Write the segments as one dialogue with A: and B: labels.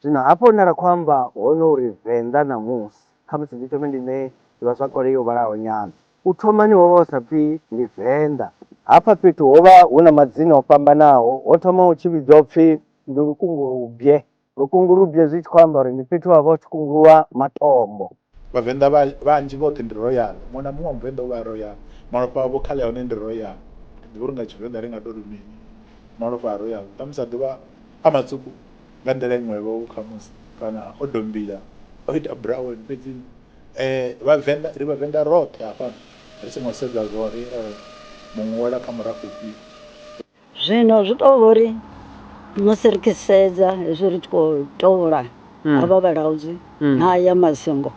A: Zwino hafha hune ra khou amba hone uri Venḓa ṋamusi, khamusi ndi thome ndi ṋee ḓivhazwakale yo vhalaho nyana. U thomani ho vha hu sa pfi ndi Venḓa. Hafha fhethu ho vha hu na madzina o fhambanaho. Ho thoma hu tshi vhidzwa u pfi ndi Lukungurubye. Lukungurubye zwi tshi khou amba uri ndi fhethu ha vha hu tshi kunguluwa matombo. Vhavenḓa vha vhanzhi vhoṱhe ndi royal, muṅwe na muṅwe wa muvenḓa u vha a royal. Malofha avho kha ḽi a hone ndi royal. Thi ḓivhi uri nga Tshivenḓa ri nga tou ri mini, malofha a royal ṱhamusi a ḓo vha a matswuku nga nḓila iṅwevho khamusi kana o dombila o ita brown fhedzi Vhavenḓa ri Vhavenḓa roṱhe hafha ri songo sedza zwa uri muṅwe u wela kha murafho ufhio. Zwino zwi tou vha uri musi ri tshi sedza hezwi ri tshi khou tola havha vhalaudzi na aya masingo,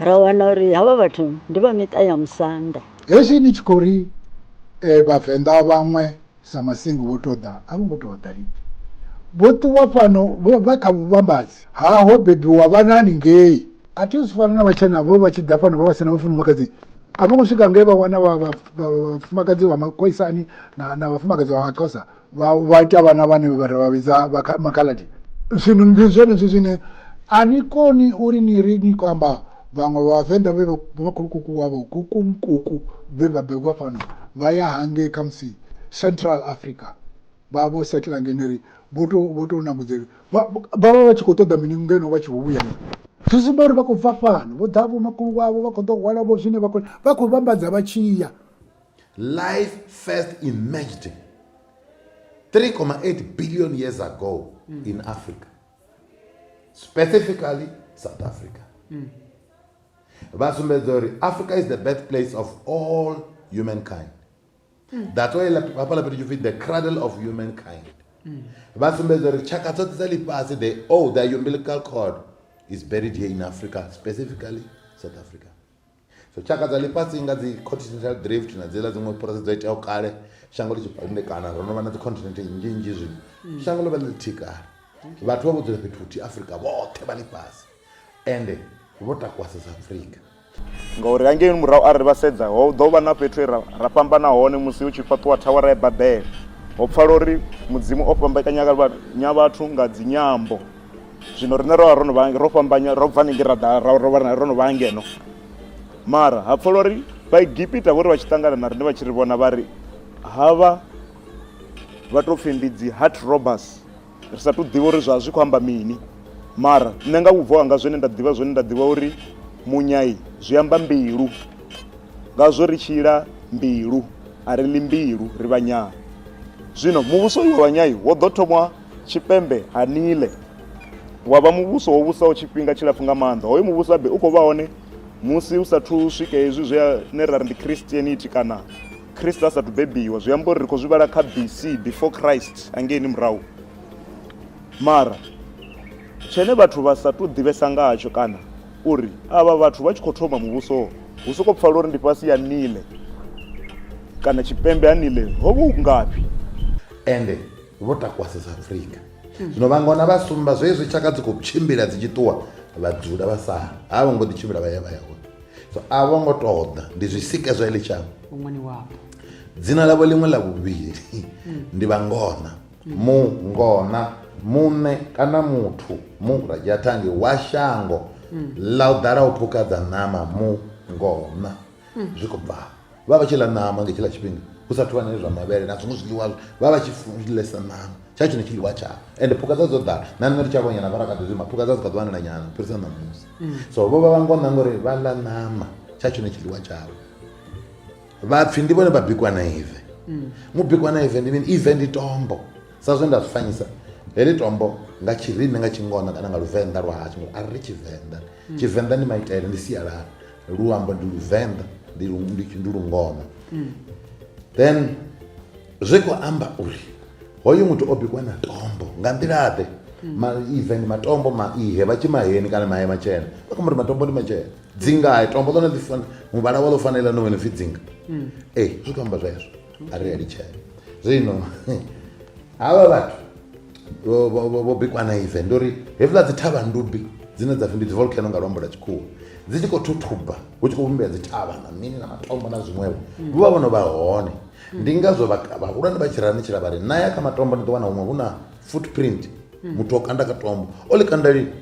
A: ra wana uri havha vhathu ndi vha miṱa ya musanda. Hezwi ni tshi khou ri Vhavenḓa vhaṅwe sa masingo vho tou ḓa, a vho ngo tou ḓa lini. Vho ṱuwa fhano vha kha vhuvhambadzi ha ho bebiwa vhanani ngei. a thi zwi fana na vhatshena vho vha tshi ḓa fhano vha vha sina vhafumakadzi a vho ngo swika nge vha wana vhafumakadzi vha makhoisani na vhafumakadzi vha maxhosa vha ita vhana vhane vha vha vhidza makhaladi zwino ndi zwenezwi zwine a ni koni uri ni ri ni khou amba vhaṅwe vhavenḓa vhe vha khulukuku wavho kukumkuku vhe vha begwa fhano vha ya hangei khamusi central africa vha vho setla ngeneri vho tou nambudzeli vha vha vha tshi khou ṱoḓa mini ngeno vha tshi vho vhuya na zwi sumba uri vha khou bva fhano vho ḓa vho makulu wavho vha khou ḓo hwala vho zwine vha khou vha khou vhambadza vha tshiya life first emerged 3,8 billion years ago mm. in africa specifically south africa mm. vha sumbedza uri africa is the birth place of all humankind that's why hafhaḽa fhethu tshipfi the cradle of humankind mm. vha sumbedza uri tshaka dzoṱhe dza ḽifhasi the all oh, the umbilical cord is buried here in africa specifically south africa so tshaka dza ḽifhasi nga dzi continental drift na dziḽa dziṅwe purasi dzo iteaho kale shango ḽi tshipandekana ro no vha na dzi continent nnzhi nnzhi zwino mm. shango ḽo vha ḽi ḽithihi kale vhathu vha vho dzula fhethu huthihi afrika vhoṱhe vha ḽifhasi ende vho takuwa south africa ngauri hangeini murahu arali vha sedza ho ḓo vha na fhethu ra, ra fhambana hone musi hu tshi fhaṱiwa thawara ya babele ho pfala uri mudzimu o fhambekanya vhathu nga dzinyambo zwino rine ro vha ro no vha ro fhambanya ro bva ningi ra ḓa ro no vha ngeno mara ha pfala uri vhaegipita vho ri vha tshi ṱangana na rine vha tshi ri vhona vha ri havha vha tou pfhi ndi dzi heart robbers ri sa tu ḓivha uri zwa zwi khou amba mini mara nṋe nga vhubvo hanga zwine nda ḓivha zwone nda ḓivha uri munyai zwi amba mbilu ngazwo ri tshila mbilu a ri ḽi mbilu ri vhanyai zwino muvhuso uyu wa vhanyai wo ḓo thomwa tshipembe ha nile wa vha muvhuso wo vhusaho tshifhinga tshilapfu nga maanḓa hoyo muvhuso abe u khou vha hone musi u sathu swika hezwi zwi ne ra ri ndi christianity kana Christ a sathu bebiwa zwi amba uri ri khou zwi vhala kha BC before Christ angeini murahu mara tshene vhathu vha sa tu ḓivhesa nga hatsho kana uri avha vhathu vha tshi khou thoma muvhuso hu soko pfala uri ndi fhasi ya nile kana tshipembe ha nile ho vha u ngafhi ende vho takuwasa sa afrika zwino vha ngona vha sumba zwezwi tshaka dzi khou tshimbila dzi tshi ṱuwa vha dzula vha sa ha vho ngo ḓi tshimbila vha ya vha ya hone so a vho ngo toḓa ndi zwi sike zwa ili tshango ṅwani wapo dzina ḽavho ḽiṅwe ḽa vhuvhili hmm. ndi vhangona hmm. mungona muṋe kana muthu mu radzhathangi wa shango hmm. ḽa u ḓala u phukadza ṋama mungona zwi khou bvaho vha vha vha tshi ḽa ṋama nga tshiḽa tshifhinga hu sathu vha na zwa mavhele na zwiṅwe zwiḽiwa vha vha vha tshi ḽesa ṋama tsha tshone tshiḽiwa tshavho ende phukha dza dzo ḓala na nṋe ri tsha vhonyana vha ra kha ḓi zwima phukha dza dzi kha ḓi wanala nyana u fhirisa ṋamusi so vho vha vha ngo ṋanga uri vha ḽa ṋama tsha tshone tshiḽiwa tshavho vhapfhi ndi vhone vha bikwa na ive mubikwa na ive ndi mini ive ndi tombo sa zwe nda zwi fanyisa heḽi tombo nga tshirimi nga tshingona kana nga luvenḓa lwa hashu ngori a ri ri tshivenḓa mm. tshivenḓa ndi maitele ndi sialala luambo ndi luvenḓa ndi ndi lungona mm. then zwi khou amba uri hoyu muthu o bikwa na tombo nga nḓilaḓe mm. ma even matombo ma ihe vha tshi maheni kana mahe matshena vha khou ri matombo ndi matshena dzingae tombo ḽone ḽi muvhala wa ḽo fanela no wena pfhi dzinga ee zwi khou amba zwezwo a ri a litshele zwino havha vhathu vho bikwa na ive ndi uri hezwiḽa dzi thavha ndubi dzine dza pfi ndi dzi volcano nga luambo lwa tshikhuwa dzi tshi khou thuthuba hu tshi khou vhumbea dzi thavha na mini na matombo na zwiṅwevho mm. vho vha vhono vha hone mm. ndi ngazwo vhahulwane vha tshi rani tshila vha ri na ya kha matombo ni ḓo wana huṅwe hu na footprint mm. muthu o kanda ka tombo o ḽi kanda lini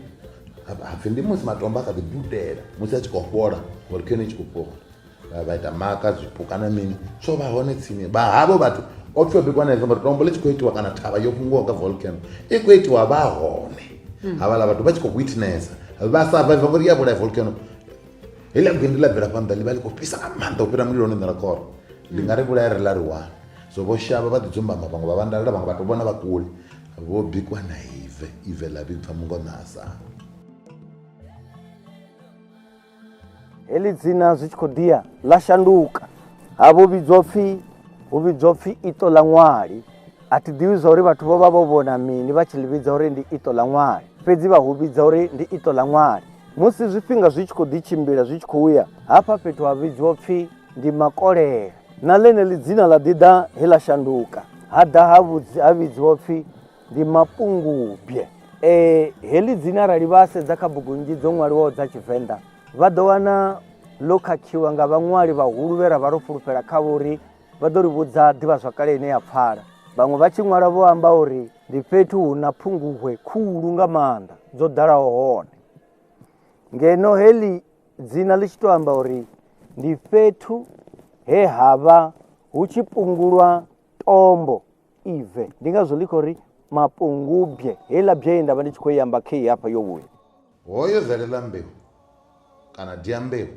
A: hapfi ndi musi matombo a kha ḓi dudela musi a tshi khou fhola volcano i tshi khou fhola vha ita maka zwipuka na mini zwo vha hone tsini vha havho vhathu o pfi o bikwa na example tombo ḽi tshi khou itiwa kana thavha yo fhunguwa nga volcano i khou itiwa vha hone hmm. havhaḽa vhathu vha tshi khou witnessa vha survive ngori ya vhulaya volcano heḽa gwindi ḽa bvela phanḓa ḽi vha ḽi khou fhisa nga maanḓa u fhira mulilo hone ṋera khoro ndi nga ri vhulaya ri ḽa ri one so vho shavha vha ḓi dzumbama vhaṅwe vha vhandalela vhaṅwe vhathu vhona vha kule vho bikwa na ive ive ḽa vhibva mungo na asana heḽi dzina zwi tshi khou ḓiya ḽa shanduka ha vho vhidzwa pfhi hu vhidzwa pfhi iṱo ḽa ṅwali a thi ḓivhi zwa uri vhathu vho vha vho vhona mini vha tshi ḽi vhidza uri ndi iṱo ḽa ṅwali fhedzi vha hu vhidza uri ndi iṱo ḽa ṅwali musi zwifhinga zwi tshi khou ḓi tshimbila zwi tshi khou ya hafha fhethu ha vhidzwa pfhi ndi makolele na ḽeneḽi dzina ḽa ḓi ḓa he ḽa shanduka ha ḓa ha vhidziwa pfhi ndi mapungubye e, heḽi dzina arali vha sedza kha bugu nnzhi dzo ṅwaliwaho dza tshivenḓa vha ḓo wana ḽo khakhiwa nga vhaṅwali vhahulu vhe ra vha ro fulufhela khavho uri vha ḓo ri vhudza ḓivhazwakale ine ya pfala vhaṅwe vha tshi ṅwala vho amba uri ndi fhethu hu na phunguhwe khulu nga maanḓa dzo ḓalaho hone ngeno heḽi dzina ḽi tshi tou amba uri ndi fhethu he ha vha hu tshi pungulwa tombo ive ndi ngazwo ḽi khou ri mapungubye heiḽa bye ye nda vha ndi tshi khou i amba khei hafha yo vhuya hoyo zaleḽa mbeu kana diambeu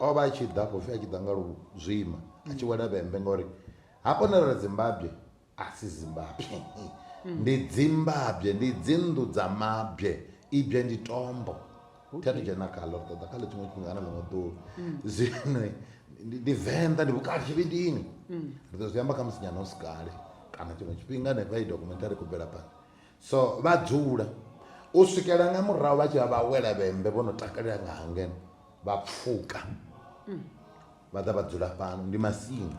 A: o vha a tshi ḓa khou pfi a tshi ḓa nga luzwima a tshi wela vhembe ngauri hafho na ri dzimbabye a si zimbabye ndi dzimbabye ndi dzinnḓu dza mabye ibye ndi tombo thi athu dzhena khaḽo ri ṱoḓa kha ḽe tshiṅwe tshifhinga kana ḽiṅwe ḓuvha mm. zwino ndi venḓa ndi vhukati tshivhidini mm. ri ḓo zwi amba kha musi nyana u si kale kana tshiṅwe tshifhinga hanefha i documentary khou bvela phanḓa so vha dzula u swikela nga murahu vha tshi vha vha wela vhembe vho no takalela nga hangeno vha pfuka mm. vha ḓa vha dzula fhano ndi masingo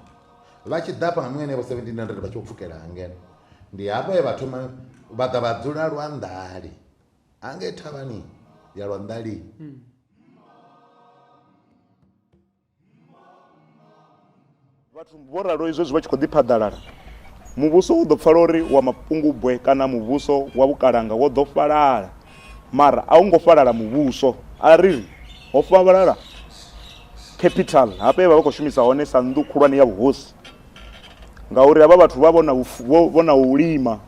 A: vha tshi ḓa fhano henevho 1700 vha tshi vho pfukela hangeno ndi hafha he vha thoma vha ḓa vha dzula lwa nḓali hangei thavhani ya lwanḓali mm. vhathu vho ralo izwo zwi vha tshi khou ḓi phaḓalala muvhuso u ḓo pfala uri wa mapungubwe kana muvhuso wa vhukalanga wo ḓo falala mara a u ngo falala muvhuso a ri ri ho falala capital hafha ye vha vha khou shumisa hone sa nnḓu khulwane ya vhuhosi ngauri havha vhathu vha vhona u lima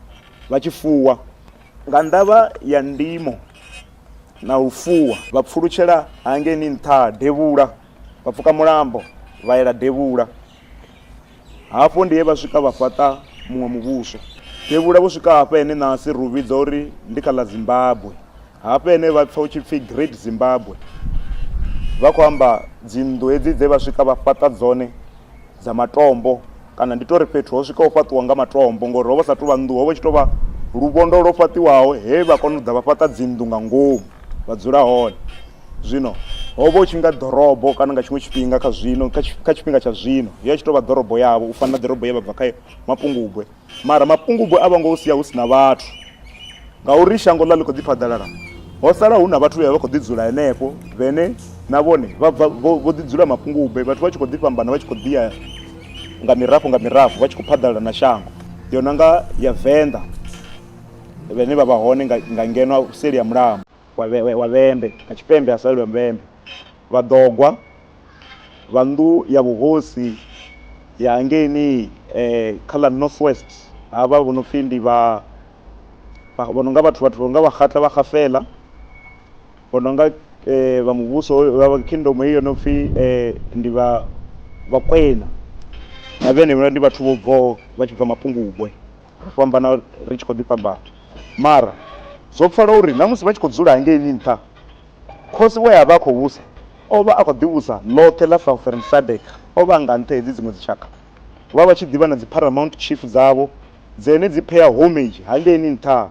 A: vha tshi fuwa Nga ndavha ya ndimo na u fuwa, vha pfulutshela hangeni nṱha ha devhula, vha pfuka mulambo vha yela devhula. Hafho ndi he vha swika vha fhaṱa muṅwe muvhuso devhula. Vho swika hafha hene nasi ri u vhidza uri ndi kha ḽa Zimbabwe. Hafha hene vha pfa hu tshi pfi Great Zimbabwe, vha khou amba dzinnḓu hedzi dze vha swika vha fhaṱa dzone dza matombo kana ndi tori fhethu ho swikaho fhaṱiwa nga matombo ngori hovha sa tuvha nnḓu hovha tshi tovha luvhondo lwo fhaṱiwaho he vha kona u ḓa vha fhaṱa dzinnḓu nga ngomu vha dzula hone zwino hovha u tshi nga ḓorobo kana nga tshiṅwe tshifhinga kha zwino kha tshifhinga tsha zwino ya tshi tovha ḓorobo yavho u fana na ḓorobo ye vha bva kha mapungubwe Mara mapungubwe a vho ngo u sia hu si na vhathu, ngauri shango ḽa ḽi khou ḓi phaḓalala. Ho sala hu na vhathu vhe vha vha vha khou ḓi dzula henefho, vhene na vhone vha bva vho vho ḓi dzula mapungubwe, vhathu vha tshi khou ḓi fhambana vha tshi khou ḓi ya nga mirafho nga mirafho vha tshi khou phaḓalala na shango, yo no nga ya Venḓa, vhane vha vha hone nga ngeno seli ha mulambo. wa Vhembe na tshipembe ha salelwe Vhembe vhaḓogwa vha nnḓu ya vhuhosi ya hangeini kha ḽa North West havha vho no pfhi ndi vha vho no nga vhathu vhathu vho no nga vha Kgatla vha Kgafela vho no nga vha muvhuso vha kingdom heyi yo no pfhi ndi vha Vhakwena na vhene ndi vhathu vho bvaho vha tshi bva Mapungubwe. ro fhambana ri tshi khou ḓi fhambana. Mara zwo pfala uri na musi vha tshi khou dzula hangeini nṱha, khosi we a vha a khou vhusa o vha a khou ḓi vhusa ḽoṱhe ḽa Southern Sadc. O vha a nga nṱha hedzi dziṅwe dzitshakha vha vha tshi ḓi vha na dzi Paramount Chief dzavho dzene dzi pea homage hangeini nṱha.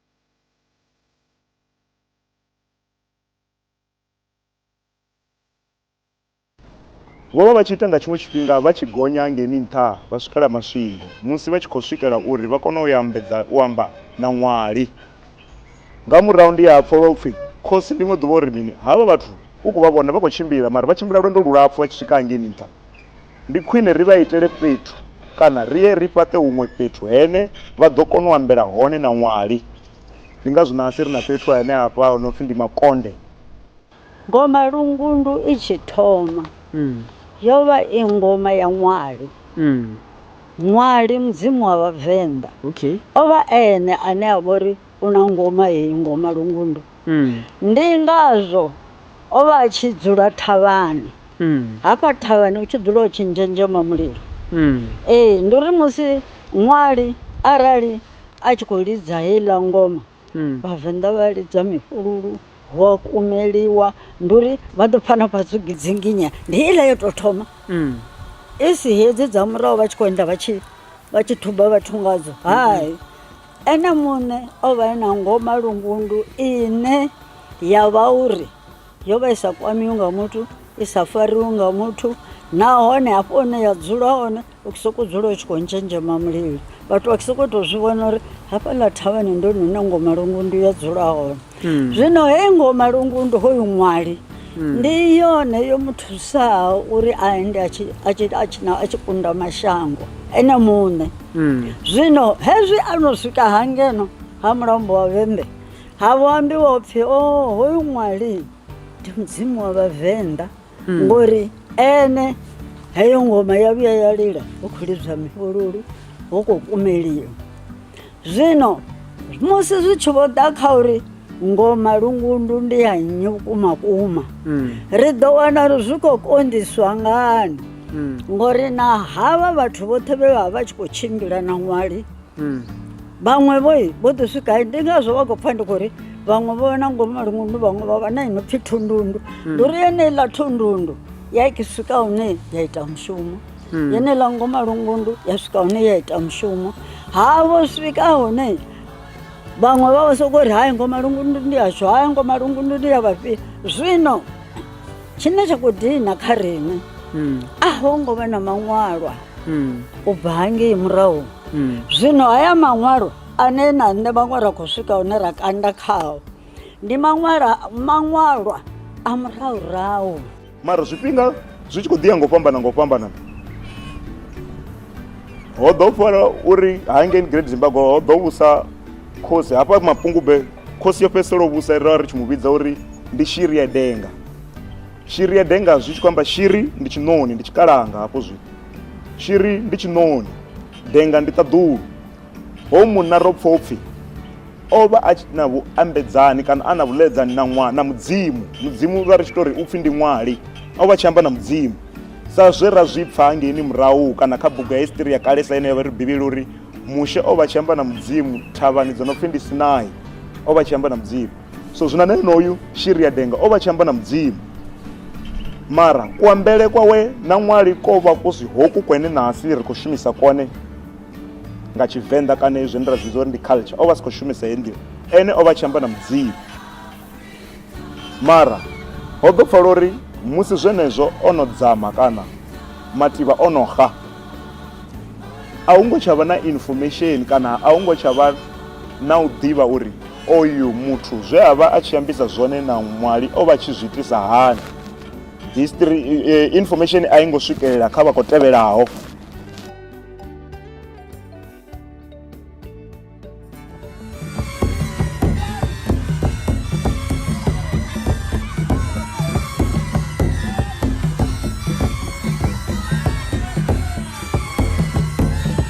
A: Vho vha vha tshi ita nga tshiṅwe tshifhinga vha tshi gonya ngeni nṱha vha swikela maswingo musi vha tshi khou swikela uri vha kone u ambedza u amba na ṅwali. Nga murahu ndi a pfa lwa upfi, Khosi ḽiṅwe ḓuvha u ri mini? Havha vhathu u khou vha vhona vha khou tshimbila mara vha tshimbila lwendo lulapfu vha tshi swika hangei nṱha. Ndi khwine ri vha itele fhethu kana ri ye ri fhaṱe huṅwe fhethu hene vha ḓo kona u ambela hone na ṅwali. Ndi ngazwo nahasi ri na fhethu henehafha ho no pfi ndi Makonde. Ngoma Lungundu i tshi thoma yo vha i ngoma ya ṅwali. Ṅwali, mudzimu wa Vhavenḓa, o vha e ene ane a vha uri u na ngoma heyi ngoma lungundu mm. ndi ngazwo o vha a tshi dzula thavhani mm. hafha thavhani u tshi dzula u tshi nzhenzhema mulilo mm. ee ndi uri musi ṅwali arali a tshi khou lidza heiḽa ngoma mm. vhavenḓa vha lidza mifhululu hu a kumeliwa ndi uri vha ḓo pfana fhasi u gidzinginya ndi iḽa yo tou thoma mm. i si hedzi dza murahu vha tshi khou enda vha tshi thuba vhathu ngadzo hai mm -hmm. Ene muṋe o vha e na ngoma lungundu ine ya vha uri yo vha i sa kwamiwi nga muthu i sa fariwi nga muthu nahone hafho hune ya dzula hone u sokou dzula u tshi khou ntshenzhema mulilo vhathu vha sokou tou zwi vhona uri hafhaḽa thavhani ndi hone hune ngoma lungundu ya dzula hone. hmm. zwino heyi ngoho malungu ndi hoyu ṅwali hmm. ndi yone yo mu thusaho uri a ende a tshi kunda mashango ene muṋe hmm. zwino hezwi a no swika hangeno ha mulambo wa vhembe ha vho ambiwa upfhi o oh, hoyu ṅwali ndi mudzimu wa vhavenḓa Mm. ngori ene heyo ngoma ya vhuya ya lila hu khou lidzwa mifhululu hu khou kumeliwa zwino musi zwi tshi vho ḓa kha uri ngoma lungundu ndi ya nnyi vhukuma kuma mm. ri ḓo wana uri zwi khou konḓiswa ngani mm. ngori na havha vhathu vhoṱhe vhe vha vha tshi khou tshimbila na ṅwali vhaṅwe vho vho ḓi swika ndi ngazwo vha khou pfha ndi khou ri vhaṅwe vho na ngomu malungundu vhaṅwe vha vha na ino pfhi thundundu hmm. ndi uri yeneiḽa thundundu ya i swika hune ya ita mushumo hmm. yeneiḽa ngomu malungundu ya swika hune ya ita mushumo ha vho swika hune vhaṅwe vha vha sokou ri hai ngomu malungundu ndi yashu hai ngomu malungundu ndi ya vhafhio zwino tshine tsha khou dina kha riṋe hmm. a ho ngo vha na maṅwalwa u bva hangei murahu hmm. zwino haya maṅwalo ane na nṋe vhaṅwe ra khou swika hune ra kanda khao ndi maṅwala maṅwalwa a murahurahu mara zwifhinga zwi tshi khou ḓiya ngo fhambana ngo fhambana ho ḓo fara uri hangeni great zimbabwe ho ḓo vhusa khosi hafha mapungube khosi yo fhedzisela u vhusa ra ri tshi mu vhidza uri ndi shiri ya denga shiri ya denga zwi tshi khou amba shiri ndi tshiṋoni ndi tshikalanga hafho zwithu Shiri ndi tshiṋoni, denga ndi ṱaḓulu. Ho munna ro pfa upfi o vha a na vhuambedzani kana a na vhuḽedzani na ṅwa na mudzimu mudzimu vha ri tshi tori upfi ndi ṅwali o vha tshi amba na mudzimu sa zwe ra zwi pfa ngeini murahu kana kha bugu ya history ya kalesa ine ya vha ri bivhili uri mushe o vha tshi amba na mudzimu thavhani dzo no pfi ndi sinai o vha tshi amba na mudzimu so zwino na enoyu shiri ya denga o vha tshi amba na mudzimu mara kuambele kwawe na ṅwali ko vha ku si hoku kwene nasi ri khou shumisa kone nga tshivenḓa kana izwi ndi ra zwi uri ndi culture o vha si khou shumisa he nḓila ene o vha tshi amba na mudzimu mara ho ḓo pfala uri musi zwenezwo o no dzama kana mativha o no xa a hu ngo tsha vha na information kana a hu ngo tsha vha na u ḓivha uri Oyu muthu zwe a vha a tshi ambisa zwone na ṅwali o vha tshi zwi itisa hani? History eh, information a i ngo swikelela kha vha khou tevhelaho.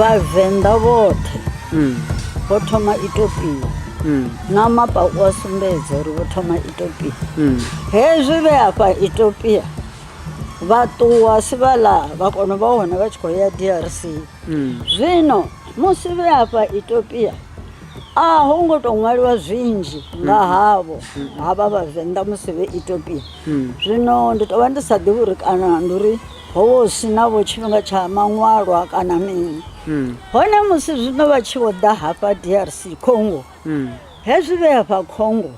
A: vhavenḓa vhoṱhe mm. vho thoma itopia mm. na mapa u a sumbedza uri vho thoma itopia mm. hezwi vhe afha itopia vha ṱuwa sivhala vha kono vha hone vha tshi khou ya drc mm. zwino musi vhe afha etopia a ho ngo tou ṅwaliwa zwinzhi nga mm. havho mm. havha vhavenḓa musi vhe etopia zwino ndi tou vha ndi sa ḓivhi uri kana ndi uri ho vha si navho tshifhinga tsha maṅwalwa kana mini hone musi zwino vha tshi vho ḓa hafha drc congo hezwi vhe afha congo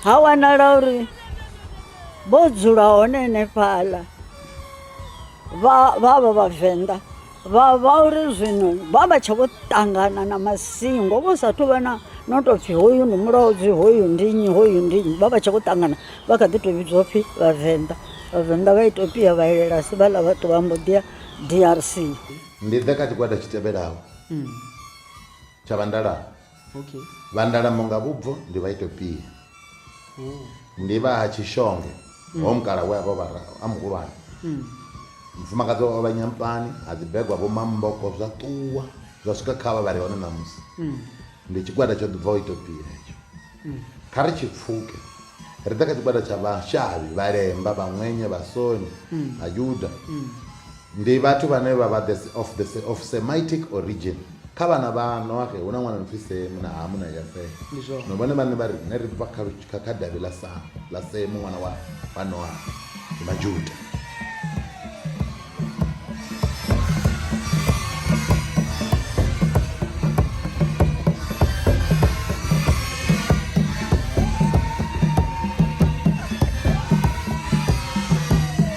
A: ha wanala uri vho dzula hone henefhaḽa vha vha vha vhavenḓa vha vha uri zwino vha vha tsha vho ṱangana na masingo vho sa thu vha na no tou pfhi hoyu ndi mulaudzi hoyu ndi nnyi hoyu ndi nnyi vha vha tsha vho ṱangana vha kha ḓi tou vhidzwa pfhi vhavenḓa vhavenḓa vha itopia vha elela si vhaḽa vha ṱuwa mbo ḓi ya drc ndi ḓe kha tshigwada tshi tevhelaho tsha vhandalana okay. vandalamo nga vhubvo ndi vha itopia oh. ndi vha ha tshishonge mm. ho mukala we avha vha a muhulwane mm. mufumakadzi wa vha nyampani ha dzibegwa vho mamboko zwa ṱuwa zwa swika kha vha vhari hone ṋamusi mm. ndi tshigwada tsho ḓubva u itopia hetsho mm. kha ri tshi pfuke ri ḓa kha tshigwada tsha vhashavhi vhalemba vhaṅwenye vhasoni mm. vhayuda mm. Ndi vhathu vhane vha vha of the of Semitic origin. Kha vhana vha Noaxe hu na ṅwana a no pfi Semu na Hamu na Yafete. Ndi zwone. Zwino vhone vhaṋe vha ri riṋe ri bva kha lu- kha kha davhi ḽa Samu ḽa Semu ṅwana wa wa Noaxe. Ndi Majuda.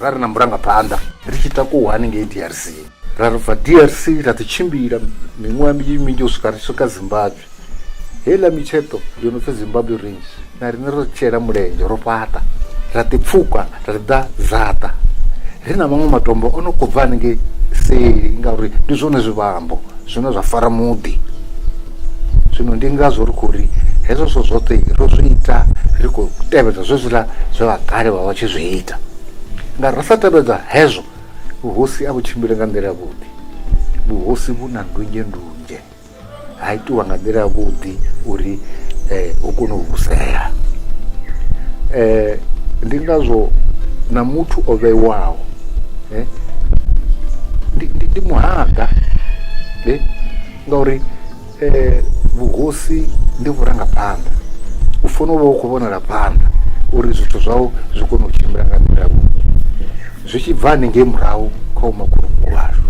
A: ra ri na murangaphanḓa ri tshi takuwa haningei drc ra ri bva drc ra ḓi tshimbila miṅwaha minzhi minzhi u swika ri swika zimbabwe heiḽa mitsheṱo yo no pfi zimbabwe range na riṋe ro tshela mulenzhe ro fhaṱa ra ḓi pfhuka ra ḓi ḓa zaṱa ri na maṅwe matombo o no khou bva haningei seli ngauri ndi zwone zwivhambo zwine zwa fara muḓi zwino ndi ngazwo ri khou ri hezwo zwithu zwoṱhe ro zwi ita ri khou tevhedza zwezwiḽa zwe vha kale vha vha tshi zwi ita nga ra sa tevhedza hezwo vhuhosi a vhu tshimbile nga nḓila yavhuḓi vhuhosi vhu na ndunzhe ndunzhe ha itiwa nga nḓila yavhuḓi uri um u kone u vhusea um ndi ngazwo na muthu o vheiwaho eh? ndi, ndi, ndi muhanga eh? ngauri eh, vhuhosi ndi vhurangaphanḓa u fanela u vha u khou vhonela phanḓa uri zwithu zwau zwi kone u tshimbila nga nḓila yavhuḓi zwi tshi bva haningei murahu kha umakhulukuku vhashu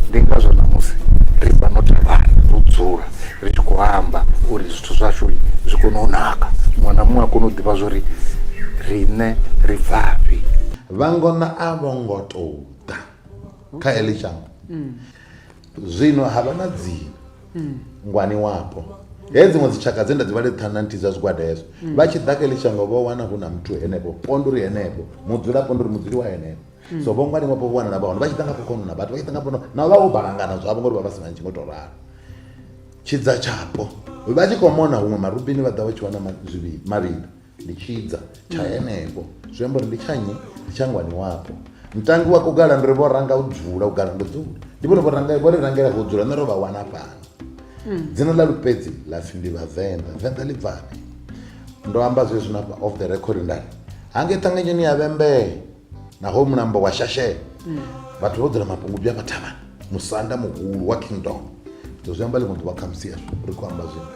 A: ndi ngazwo namusi ri vha no thavhana ro dzula ri tshi khou amba uri zwithu zwashu zwi kone u naka muṅwe na muṅwe a kone u ḓivha zwo ri riṋe ri bvafhi Vhangona a vho ngo tou ḓa kha heḽi shango, zwino ha vha na dzina ngwaniwapo. He dziṅwe dzitshaka dze nda dzi vhale ṱhanu na nthihi dza zwigwada hezwo, vha tshi ḓa kha heḽi shango vho wana hu na muthu henefho, ponde uri henefho, mudzulapo ndi uri mudzuli wa henefho. So vho ngwaniwapo vho wanala vha hone, vha tshi ḓa nga fhokhono na vhathu, vha tshi ḓa nga fhokhono na vha vho balangana zwavho ngori vha vha si na ntshi ngo tou ralo. Tshidza tshapo vha tshi khou mona huṅwe marubini vha ḓa vha tshi wana ma- zwivhi- mavhili. ndi tshidza tsha henefho zwi amba uri ndi tsha nnyi ndi tsha ngwani wapo mutangi wa kugala ndi ri vho ranga u dzula u gala ndo dzula ndi vhone vho ranga vho ri rangela vho dzula nṋe ro vha wana fhano hmm. dzina ḽa lupedzi ḽa pfhi ndi vhavenḓa venḓa ḽi bvani ndo amba zwezwi na off the record ndari hange ṱanganyoni ya vhembee naho mulambo wa shashela mm. vhathu vho dzula mapungubya a vhathavhani musanda muhulu wa kingdom so zwi amba ḽiṅwe ḓuvha khamusi yashu ri khou amba zwino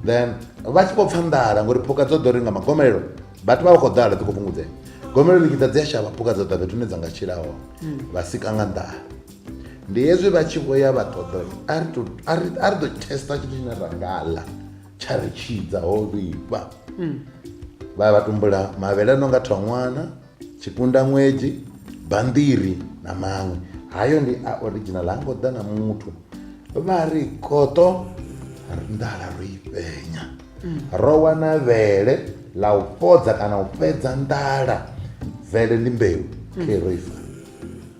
A: then vha tshi vho pfa nḓala ngori phukha dzo ḓo ri nga magomelelo vhathu vha vha khou ḓala ḓi khou fhungudzea gomelelo ḽi dza dzi a shavha phukha dzo ḓa fhethu hune dza nga tshila hone mm. vha sika nga nḓala ndi hezwi vha tshi vho ya vha ṱoḓa a ri ḓo testa tshithu tshine ra nga ḽa tsha ri tshidza ho vhifha mm. vha vha tumbula mavhele a no nga thongwana tshipundamwedzi banḓiri na maṅwe hayo ndi a original ha ngo ḓa na muthu vha ri koṱo nḓala ro i fhenya ro wana vhele ḽa u fhodza kana u fhedza nḓala vele ndi mbeu khe ro i fara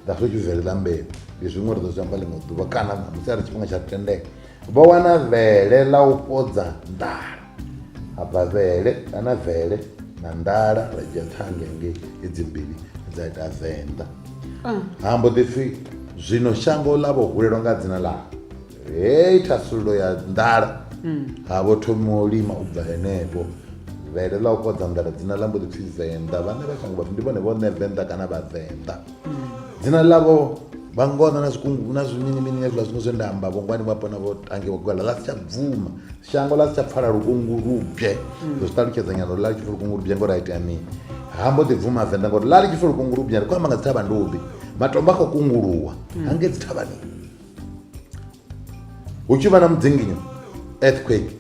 A: that's what you vele ḽa mbeu ndi zwiṅwe ri ḓo zwi amba ḽiṅwe ḓuvha kana ṋamusi a ri tshifhinga tsha ri tendela vho wana vhele ḽa u fhodza nḓala ha bva vele kana vele na nḓala ra dzhia ṱhange ngei edzi mbili dza ita venḓa ah. ha mbo ḓi pfhi zwino shango ḽa vho hulelwa nga dzina ḽa hei thasululo ya nḓala hmm. ha vho thomiwa u lima u bva henefho vele ḽa u kodza nḓala dzina ḽa mbo ḓi pfhi venḓa vhane vha shango vhapfi ndi vhone vhone venḓa kana vhavenḓa hmm. dzina ḽavho vha ngona na zwikungu na zwiminimini hezwiḽa zwiṅwe zwe nda amba vhongwani vhapo na vho tangiwa gwala ḽa si tsha bvuma shango ḽa si tsha pfala lukungu lubye mm. ndo zwi ṱalutshedza nyana uri ḽa ḽi tshi pfa lukungu lubye ngori a itea mini ha mbo ḓi bvuma venḓa ngori ḽa ḽi tshi pfa lukungu lubye ri khou amba nga dzi thavha ndubi matombo a khou kunguluwa mm. hange dzi thavhani hu tshi vha na mudzinginyo earthquake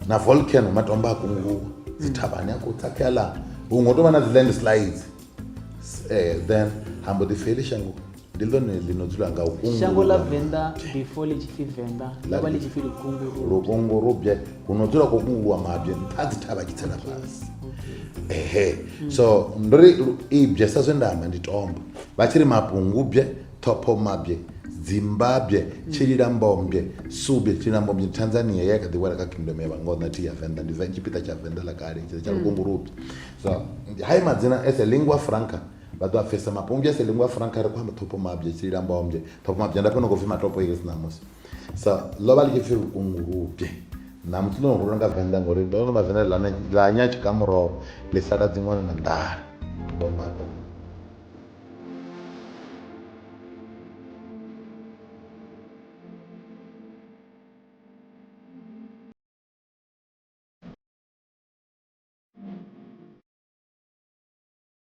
A: na volcano matombo a kunguluwa mm. dzi thavhani a khou tsakhea ḽa huṅwe u tou vha na dzi land slides eh, then ha mbo ḓi feli shango ndi ḽone ḽi no dzula nga hungu shango ḽa ḽa venḓa before ḽi tshi pfi venḓa ḽo vha ḽi tshi pfi lukungu lukongo rubye huno dzula khou kungulwa mabye nṱha ha dzi thavha tshi tsela fhasi ehe so ndo ri lu- ibye sa zwe nda amba ndi tombo vha tshi ri mapungubye ṱhophomabye dzimbabye tshililambombye subye tshililambombye ndi tanzania ye ya kha ḓi wela kha kingdom ya vhangoḓa thi ya venḓa ndi Ven- tshipiḓa tsha venḓa ḽa kale tsha tsha lukungurubye so hai madzina as a lingua franca Vha ḓo a pfesa mapo umbya se lingwa frank a ri khou amba ṱhopho mabya tshi lila amba umbye ṱhopho mabya nda fhano khou pfi matopo iri si ṋamusi so ḽo vha ḽi tshi pfi lukungulubye ṋamusi ḽo no hulwa nga venḓa ngori ndo no mavenda ḽa ḽa nya tshikamuroro ḽi sala dziṅwana na nḓala ndo mato Thank you.